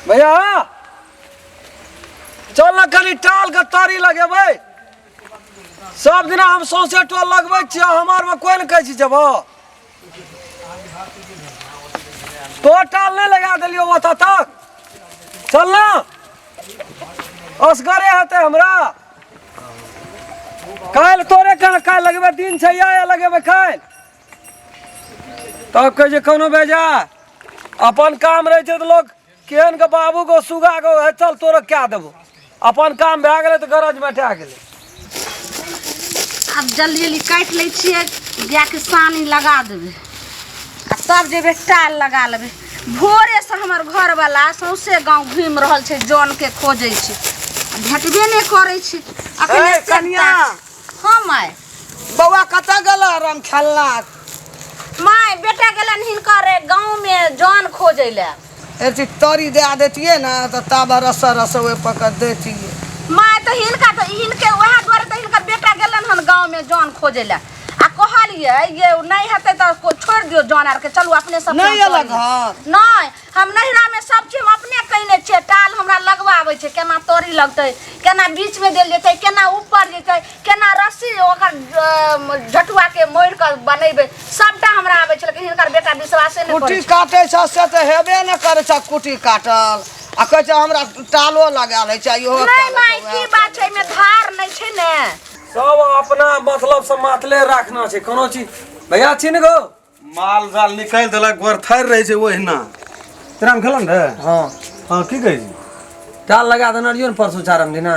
भैया चल ना कनी टाल के तारी लगेबै सब दिना हम सौंसे टोल लगबै छियै हमार में कोई ने कहै छी जेबो तो टाल नहीं लगा देलियो ओतऽ तक चल ना असगरे हेतै हमरा काल्हि तोरे कहाँ काल्हि लगेबै दिन छै या लगेबै काल्हि तब कहै छै कोनो बेजा अपन काम रहै छै तऽ लोक केहन के बाबू को सुगा को "हे, चल तोरा कए देबो अपन काम भए गेलै तऽ गरज बैठा गेलै आब जल्दी जल्दी काटि लै छियै गायके सानी लगा देबै आ तब जेबै टाल लगा लेबै भोरेसँ हमर घरवला सौंसे गाँव घुमि रहल छै जनके खोजै छै आ भेटबे नहि करै छै अखने ए, से कनिया! ताक- हम आय बौआ कतऽ गेल रंग खेलना माय बेटा गेलन हिनकर गांव में जान खोजै ले एती तरी दे देतिए ना तो तब रस रस ओए पकड़ देतिए माय तो हिनका तो हिनके वह द्वारे तो हिनकर बेटा गेलन हन गांव में जान खोजै ले आ कहलिए ये नहीं हेतै तो को छोड़ दियो जान आर के चलू अपने सब नहीं अलग घर नहीं हम नैहरामे सब चीज हम अपने कयने छियै टाल हमरा लगबा आबै छै केना तोरी लगतै केना बीचमे देल जेतै केना ऊपर जेतै केना रस्सी ओकर अम, झटुआके मोड़ि कऽ बनेबै सबटा हमरा आबै छै लेकिन हिनकर बेटा विश्वासे नहि कुटी करै छै काटै छ से तऽ हेबे ने करै छ कुटी काटल आ कहै छ हमरा टालो लगा लै छ इहो नहि टाल माय की बात छै एहिमे धार नहि छै ने सब अपना मतलब से मातले राखना छै कोनो चीज भैया छी ने गो माल जाल निकालि देलक गोरथारि रहै छै ओहिना तेना खेलऽ ने हँ हँ की कहै छी चाल लगा देने रहियो ने परसू चारम दिना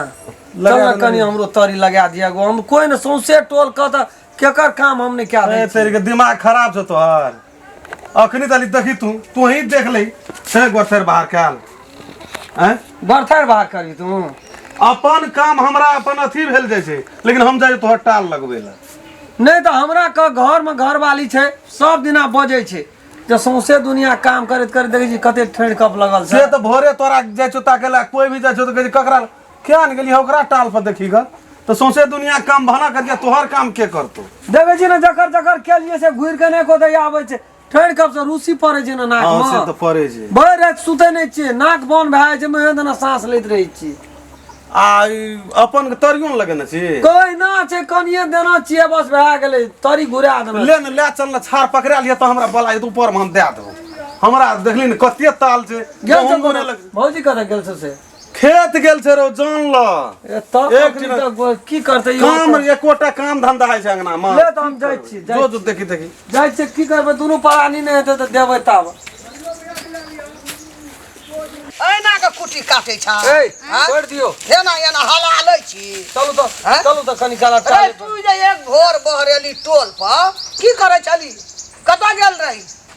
लगा चल ने देने कनि रहियो। हमरो तरी लगा दिया गो हम कोई ने सौंसे टोल कह तऽ केकर काम हम नहि कए ए, दै तेरे के दिमाग खराब छौ तोहर अखनी तली देखी तू तू ही देख ले से गोरथर बाहर काल हैं बर्थर बाहर करी तू अपन काम हमरा अपन अथी भेल जाइ छै लेकिन हम जाइ तोहर टाल लगबै लए नहि तऽ हमरा कऽ घरमे घरवाली छै सब दिना बजै छै जे सौंसे दुनिया काम करैत करैत देखै छी कते ठेढ़ कप लगल से छै तऽ भोरे तोरा जाइ छौ ताके लए कोइ भी जाइ छौ तऽ कहै छै ककरा लए? किया ने गेलियै ओकरा टाल पर देखी ग तऽ सौंसे दुनिया काम भाना करिया तोहर काम के करतौ देखै छी ने जकर जकर केलियै से घुरि कऽ नहि कोतै आबै छै ठहर कब से रूसी पड़े छै ना नाक हाँ से में तो पड़े छै भरि राति सुते नहि छियै नाक बन भए जाइ छै मुँहे देना साँस लैत रहै छी आ ई अपन के तरियो ने लगेने छी कोई ना छै कनिए देना छियै बस भए गेलै तरी घुरा देना ले ने ले चल ने छाड़ पकड़ा लिया तो हमरा बला एत ऊपर में हम दे देबो हमरा देखली ने कते ताल छै गेल गहूम छौ बोने लग भौजी कतऽ गेल छौ से खेत गेल छै रौ जान ल ए तब एक अपनी दिन- तक गो- की करते यो काम अपन? एकोटा काम धंधा होइ छै अंगना मे ले तऽ हम जाइ छी जाइ जो जो देखी देखी जाइ छै की करबै दुनू परानी नहि हेतै तऽ देबै तब एना के कुटी काटे छ ए हाँ? छोड़ दियो एना एना हला लै छी चलू तऽ हाँ? चलू तऽ कनी काला अरे चाले तू जे एक भोर बहरेली टोल पर की करे छली कतऽ गेल रही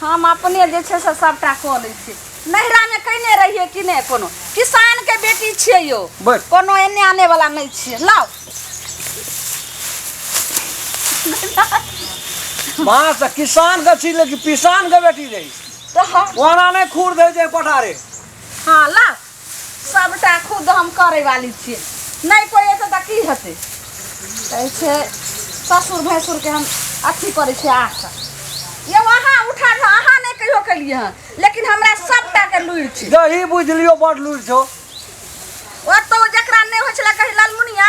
हम अपने जे छै से सभटा कऽ लै छी नैहरामे कयने रहियै कि नहि कोनो किसानके बेटी छियै यौ बस। कोनो एने आने वाला नहि छियै लाउ माँ से किसान के छी लेकिन किसान के बेटी रही तऽ हम- ओना नहीं खूर दे दे पठारे हाँ लाउ सबटा खुद हम करे वाली छियै नहि कोइ एतै तऽ की हेतै कहै छै ससुर भैंसुरके हम अथी करै छियै आशा यौ अहाँ उठा कऽ अहाँ नहि कहियो केलियै हन लेकिन हमरा सबटा के लुरि छै यही बुझ लियो बड़ लूर छौ ओतौ जकरा नहि होइ छलै कही लालमुनिया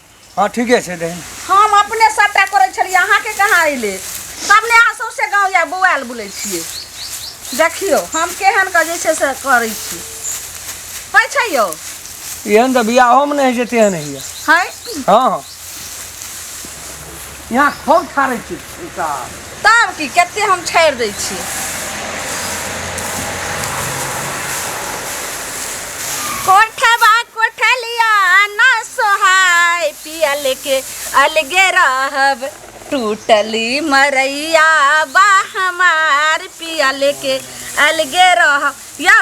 हाँ ठीके छै दही हम अपने सभटा करै छलियै अहाँके कहाँ अयलै तब ने अहाँ सौंसे गाँव या बौआएल बुलै छियै देखियौ हम केहन कऽ जे छै से करै छी होइ छै यौ एहन तऽ बियाहोमे नहि होइ छै तेहन होइए है हाँ हाँ यहाँ खूब छाड़ै छी साहब तब की कते हम छाड़ि दै छी कोठबा कोठलिया न सोहाय पिया लेके अलगे रहब टूटली मरैया बा हमार पिया लेके अलगे रहब यौ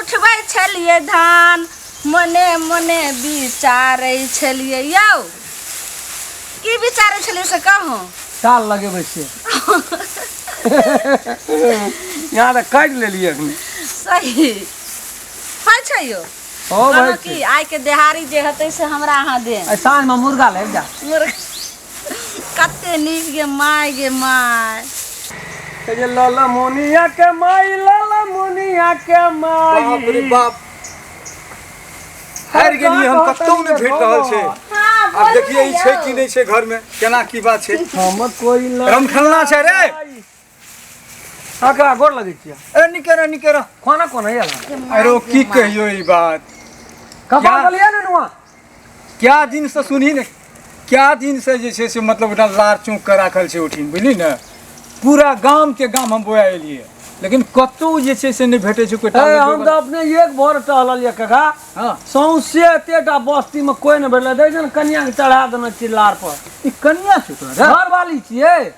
उठबै छलियै धान मने मने विचारै छलियै यौ की विचारै छलियै से कहू साल लगेबै से यहाँ तऽ काटि लेलियै एखन सही होइ छै यौ ओ कहलहुँ भाइ कि आइके देहारी जे हेतै से हमरा अहाँ देब साँझमे मुर्गा लागि जा मुर्गा कते नीक गे माय गे माय ए जे लाला मोनिया के माई लाला मोनिया के माई बाप रे बाप हारि गेलियै हम कतौ नहि भेट रहल छै हाँ आब बोलू देखिए ई ने छै यौ। कि नहि छै घर में केना की बात छै हम कोई रमखेलना छै रे काका गोर लगे छियै ए निके रह निके रह खाना कोन है यार अरे ओ की कहियो ई बात कपा क्या? गलिया ने नुआ क्या दिन से सुनी ने क्या दिन से जे छै से मतलब ओकरा लार चौक के राखल छै उठिन बुझली ने पूरा गाम के गाम हम बोया एलियै लेकिन कतौ जे छै से नहि भेटै छै कोई ए टावर हम तऽ अपने एक भोर टहलल ये काका हाँ सौंसे एतेटा बस्ती में कोई ने भेटले देख ने कनिया के चढ़ा देने छियै लार पर ई कनिया छै तोरा घर वाली छियै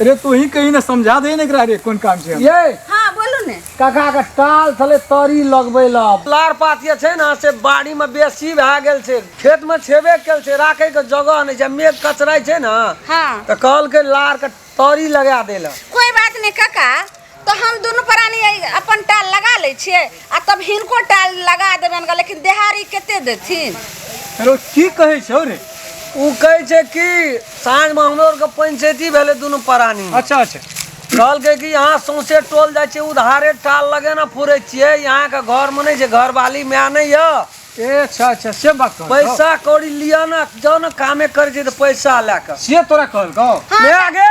अरे तू ही कहीं ना समझा दे ना एकरा रे कौन काम छै हम। ये हाँ बोलू ने काका के टाल थले तरी लगबै ला लार पात जे छै ने से बाड़ी में बेसी भए गेल छै खेत में छेबे कल छै राखे के जगह नहि छै मेघ कचराइ छै ने हाँ तऽ कहलकै लार के तरी लगा देला कोई बात नहीं काका तो हम दोनों प्राणी ऐ- अपन टाल लगा ले छिए आ तब हिनको टाल लगा देबन गा लेकिन देहारी केते देथिन अरे ओ की कहै छौ रे उ कहै छै कि साँझ में हमरो आर के पंचायती भेलै दुनू प्राणी अच्छा अच्छा कहलकै कि यहाँ सौंसे टोल जाइ छै उधारे टाल लगे ने फुरै छियै यहाँ के घर में नहि छै घरवाली माय नहि य ए अच्छा अच्छा से बात कहल पैसा कौड़ी लिअ ने जाउ ने कामे करै छै तऽ पैसा लए कऽ से तोरा कहल गौ ले आगे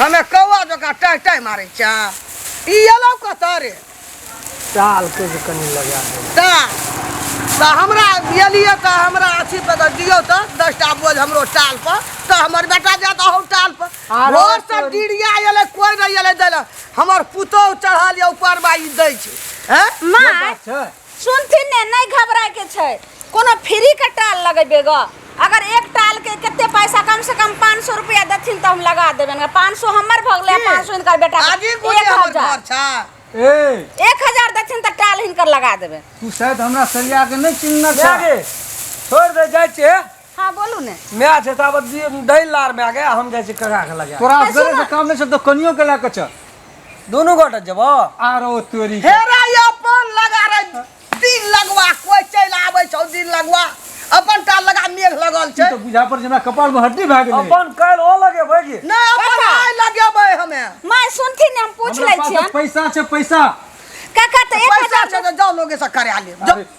हमे कौआ जकाँ टाइ टाइ मारै छै ई एलौ कतऽ रे चाल के जे कनि लगा दे ता तऽ हमरा एलियै तऽ हमरा अथी पर तऽ दियौ तऽ दस टा बोझ हमरो टाल पर तऽ हमर बेटा जायत अहू टाल पर आरो भोर से तोरी। डिरिया एलै कोइ नहि एलै दै लए हमर पुतोहु चढ़ल यऽ ऊपर बाई दै छै हैं माय बात छै सुनथिन ने नहि घबरायके छै कोनो फ्रीके टाल लगेबै ग अगर एक टालके कते पैसा कम से कम पाँच सौ रुपया देथिन तऽ हम लगा देबनि ग पाँच सौ हमर भऽ गेलै की? पाँच सौ हिनकर बेटा आगे एक कोने हमर हजार घर छा ए एक हजार देथिन तऽ टाल हिनकर लगा देबै तू शायद हमरा सरिया के नहीं चिन्हना छा छोड़ दे जाए छे हाँ बोलू ने मैं आ जाता बस ये दैल लार में आ गया हम जैसे कगा के लगा तोरा अरे असगरे सुन। से काम नहीं छै तो कनियो के लए के चल दोनों गोटा जब आरो तोरी के। हेरा ये अपन लगा रे दिन लगवा कोई चल आवे छौ दिन लगवा अपन टा लगा मेघ लगल ई छै तो बुझा पर जेना कपाल में हड्डी भए गेलै अपन कल ओ लगे भागी नै अपन आइ लगेबै हमे माँ सुनथिन ने हम पूछ हमरा लै पास छियन पैसा छै पैसा काका तो एक पैसा हजार छै त जाउ लोगे से करा ले जाउ। अरे,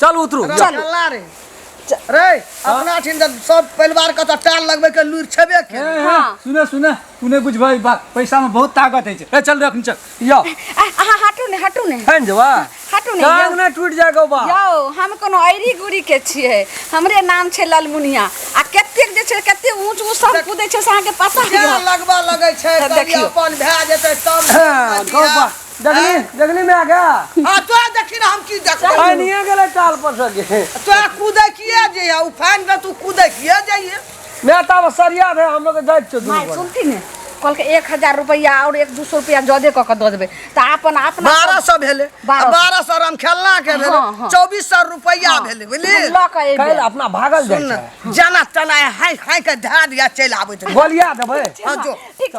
चल उतरू चल। चल चलना रे रे अपना ठिन तऽ सब परिवार के तऽ टाल लगबै के लूर छेबे के हाँ। सुने सुने तू नहीं बुझबा ई बात पैसा में बहुत ताकत है ए चल रे अखनी चल यो आ, अहाँ हटू ने हटू ने हन जवा हटू ने टांग यौ। ना टूट जाएगा बा यौ हम कोनो ऐरी गुरी के छियै हमरे नाम छै ललमुनिया आ कतेक जे छै कते ऊंच ऊंच सब कूदै छै से अहाँके पता जे है लगबा लगै छै तऽ देखियौ। अपन भए जेतै तब हाँ, गौ बा। देखली देखली में आ गया आ तोरा देखी ना हम की देखबै पानिए गेलै टाल पर से गे तोरा कूदै किए जे ओ फैन पर तू कूदै किए जाइए मैं तब सरिया रहे हम लोग के जाइत छौ माय दूर सुनती ने कल के एक हजार रुपया और एक दू सौ रुपया जदे कऽ के दऽ देबै तऽ अपन अपना बारह सौ भेलै आ बारह सौ। बारह सौ राम खेलना के भेलै हाँ, हाँ। चौबीस सौ रुपैआ भेलै बुझली हम लऽ कऽ अयबै। काल्हि अपना भागल सुन जाइ छै जना तना हाइ हाइ के धए दिया चलि आबैत रहे बोलिया देबै हाँ जो ठीक छै